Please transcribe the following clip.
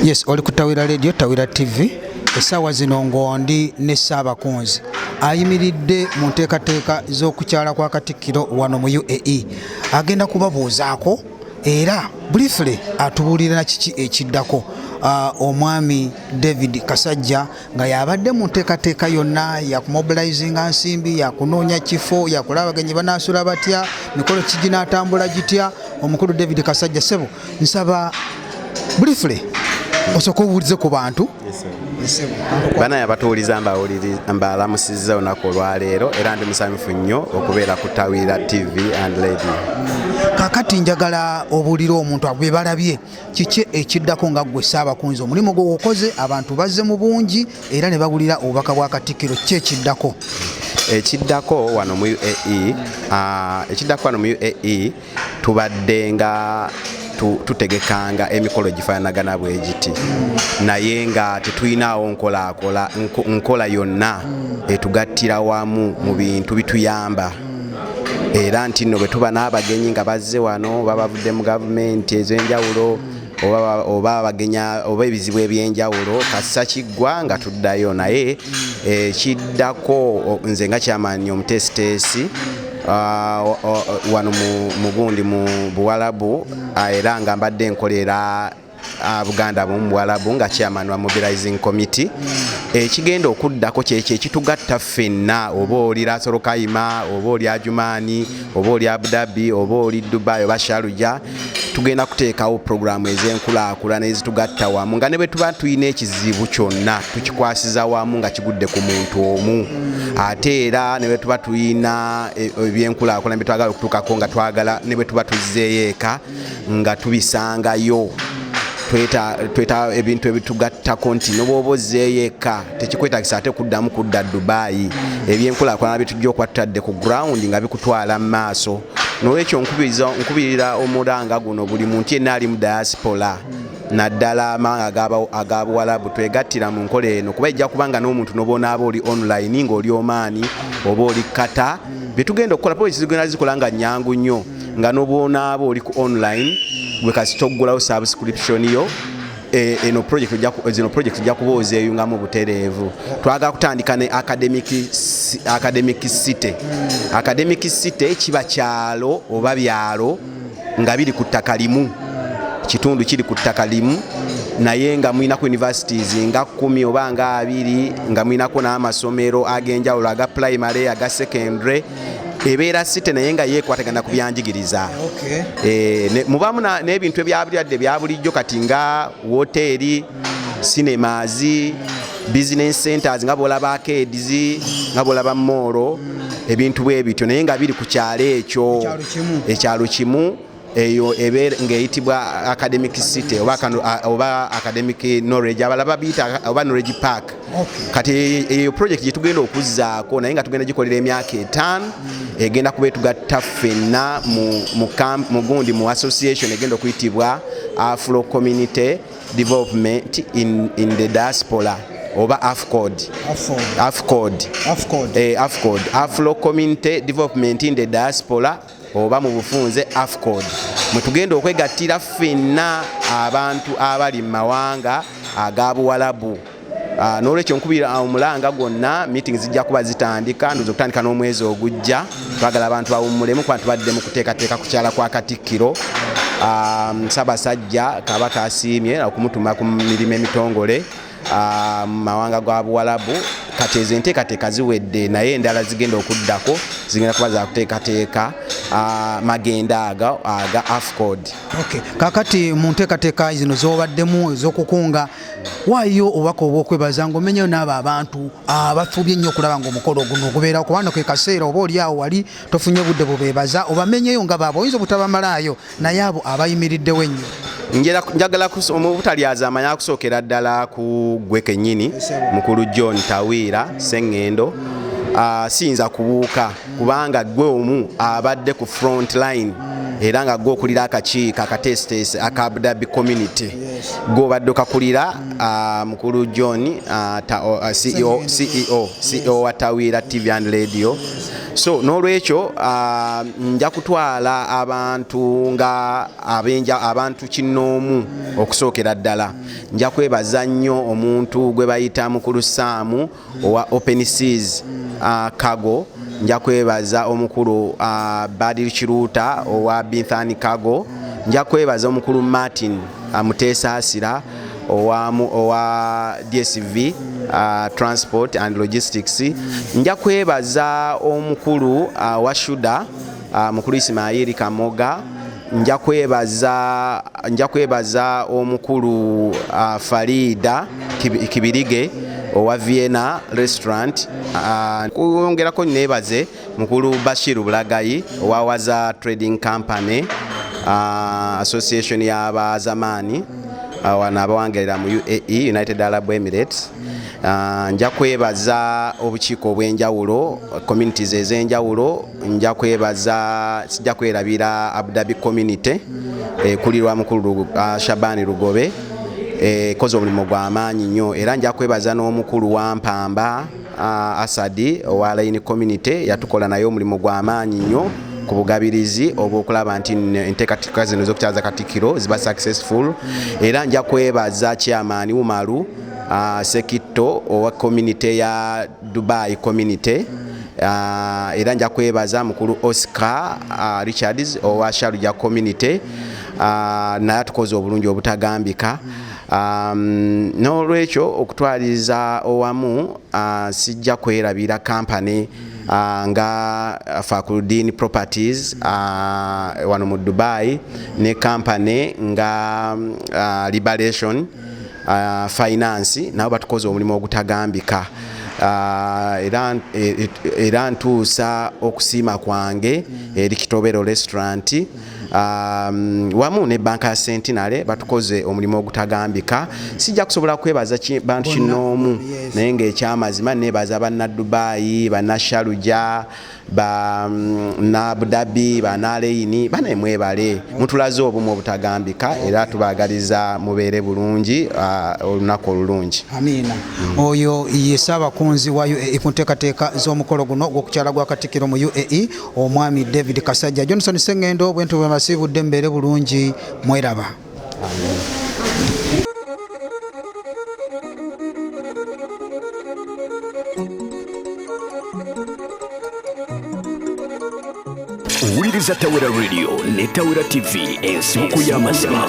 yes oli ku tawira radio tawira tv essaawa zino ngondi ne ssaabakunzi ayimiridde mu nteekateeka z'okukyala kwa katikkiro wano mu uae agenda kubabuuzaako era briefly atubuulira kiki ekiddako uh, omwami david kasajja nga yabadde mu nteekateeka yonna yakumobilizinga nsimbi yakunoonya kifo yakula abagenyi banaasula batya mikolo kiginaatambula gitya omukulu david kasajja sebo nsaba briefly osooka obuulize ku bantu bana yabatuwuliza mbalamusizza olunaku olwaleero era ndi musanyufu nnyo okubeera ku tawira tv and lady kakati njagala obuulire omuntu abo bebalabye kiki ekiddako nga ggwe ssaabakunzi omulimu gwe gukoze abantu bazze mu bungi era ne bawulira obubaka bwa katikkiro ki ekiddako ekiddako wano mu uae ah, ekiddako wano mu uae tubadde nga tutegekanga emikolo gifaanagana bwe giti naye nga tetulinaawo nkola yonna etugattira wamu mu bintu bituyamba era nti nno bwe tuba n'abagenyi nga bazze wano oba bavudde mu gavumenti ez'enjawulo oba abagenya oba ebizibu ebyenjawulo kassa kiggwa nga tuddayo naye eh, kiddako nze nga kyamaanyi omuteesiteesi ah, wano mugundi mu buwalabu ah, era nga mbadde nkolera ah, buganda abamu mu bwalabu nga chairman wa mobilizing committee hmm. ekigenda okuddako kyekyo ekitugatta ffenna oba oli lasorokaima oba oli ajumaani oba oli abudabi oba oli dubai oba sharuja tugenda kuteekawo puroguramu ez'enkulaakulana ezitugatta wamu nga ne bwe tuba tulina ekizibu kyonna tukikwasiza wamu nga kigudde ku muntu omu ate era ne bwe tuba tulina e, ebyenkulaakulana bye twagala okutuukako nga twagala ne bwe tuba tuzzeeyo eka nga tubisangayo tweta ebintu ebitugattako nti nobwoba ozzeeyo eka tekikwetagisa ate kuddamu kudda dubayi ebyenkulakulana bitujja okwattadde ku ground nga bikutwala mu maaso nolwekyo nkubirira omulanga guno buli muntu yenna ali mu diaspora naddala amawanga aga buwalabu twegattira mu nkola eno kuba ejja kuba nga n'omuntu nobonaaba oli online ngaoli omaani oba oli kata byetugenda okukola poli kizigenda zikola nga nyangu nnyo nga nobwonaaba oli ku online gwe kasita okugulawo subscription yo eh, eno project zino project ojja kuba ozeyungamu butereevu twagala kutandika ne academic academic city academic city kiba kyalo oba byalo nga biri ku ttaka limu kitundu kiri ku ttaka limu naye nga mulinako universities nga kumi oba nga abiri nga mulinako n'amasomero ag'enjawulo aga primary aga secondary ebeera site naye nga yekwatagana ku byanjigiriza eh, mubamu n'ebintu ebyabulyadde byabulijjo kati nga woteeri sinemaazi business centers nga bwolaba akedizi nga bwolaba moolo ebintu bwe bityo naye nga biri ku kyalo ekyo ekyalo kimu eyo ebeera ng'eyitibwa academic city oba, oba academic knowledge abala babiyita oba knowledge park kati eyo project gyetugenda okuzzaako naye nga tugenda gikolera emyaka etaano mm. egenda kuba etugatta ffenna mugundi mu association egenda okuyitibwa afro community development in, in the diaspora oba afcod afcod afcod eh, afcod afro community development in the diaspora oba mu bufunze afcod mwetugenda okwegattira ffenna abantu abali mu mawanga aga buwalabu ah, nolwekyo nkubira omulanga gwonna meeting zijja kuba zitandika ndoza okutandika n'omwezi ogujja twagala abantu bawummulemu kuba tubadde mu kuteekateeka kukyala kwa katikkiro ah, sabasajja kabaka asiimye okumutuma ku mirimu emitongole Ah, mu mawanga gwa buwalabu kati ezo enteekateeka ziwedde naye endala zigenda okuddako zigenda kuba zakuteekateeka ah, magenda aga aga afcod kakati mu nteekateeka zino zobaddemu ezokukunga waayo obubaka obwokwebaza ngaomenyayo naabo abantu abafubye nnyo okulaba nga omukolo oguno ogubeera kubanga kekaseera oba oliawo wali tofunye budde bubebaza obamenyeyo nga baaba oyinza obutabamalaayo naye abo abayimiriddewo ennyo njagala obutalyazaama yakusookera ddala ku gwe kennyini mukulu john tawiira seŋŋendo ah, siyinza kubuuka kubanga gwe omu abadde ku front line era nga gwe okulira akakiiko akateesiteesi aka abdabi community gwe obadde okakulira ah, mukulu john ah, ceo e wa tawiira tv and radio so n'olwekyo uh, nja kutwala abantu nga abenja abantu kinnoomu okusookera ddala nja kwebaza nnyo omuntu gwe bayita mukulu saamu owa open seas uh, kago nja kwebaza omukulu uh, badil kiruuta owa binthani kago nja kwebaza omukulu martin uh, muteesaasira owa dsv uh, transport and logistics nja kwebaza omukulu uh, wa shuda uh, mukulu isimayiri kamoga nja kwebaza nja kwebaza omukulu uh, farida kibirige owa vienna restaurant uh, kuyongerako nebaze Mukulu Bashir Bulagayi owa Waza Trading Company uh, Association y'abazamaani uh, wano abawangalira mu UAE United Arab Emirates uh, nja kwebaza obukiiko obw'enjawulo communities ez'enjawulo nja kwebaza sijja kwerabira Abu Dhabi community ekulirwa eh, mukulu uh, Shabani Lugobe ekoze eh, omulimu gw'amaanyi nnyo era nja kwebaza n'omukulu wa Mpamba Uh, Asadi owa Line Community yatukola naye omulimu gwa maanyi nnyo ku bugabirizi obwokulaba nti enteekateeka zino z'okukyaza Katikkiro ziba successful era nja kwebaza chairman Umaru uh, Sekitto owa community ya Dubai community uh, era nja kwebaza mukulu Oscar uh, Richards owa Sharjah community uh, naye atukoze obulungi obutagambika mm. Um, n'olwekyo okutwaliza owamu uh, sijja kwerabira kampany uh, nga fakuludin properties uh, wano mu dubai ne kampany nga uh, liberation uh, finance nabo batukoze omulimu ogutagambika Ah, era e, e, ntuusa okusiima kwange eri kitobero restaurant um, wamu ne banka ya sentinale batukoze omulimu ogutagambika sijja kusobola kwebaza bantu kinoomu naye ngaekyamazima nebaza banadubaayi banashaluja banabudabi um, banaleyini banaye mwebale mutulaze obumu obutagambika era tubagaliza mubeere bulungi uh, olunaku olulungi amiina mm. oyo ye saabakunzi wa uae ku nteekateeka z'omukolo guno ogw'okukyala gwa katikiro mu uae omwami david kasajja johnson sengendo bwentu bwemasiibudde mbeere bulungi mweraba owuliriza tawera radio ne tawera tv ensibuko y'amazima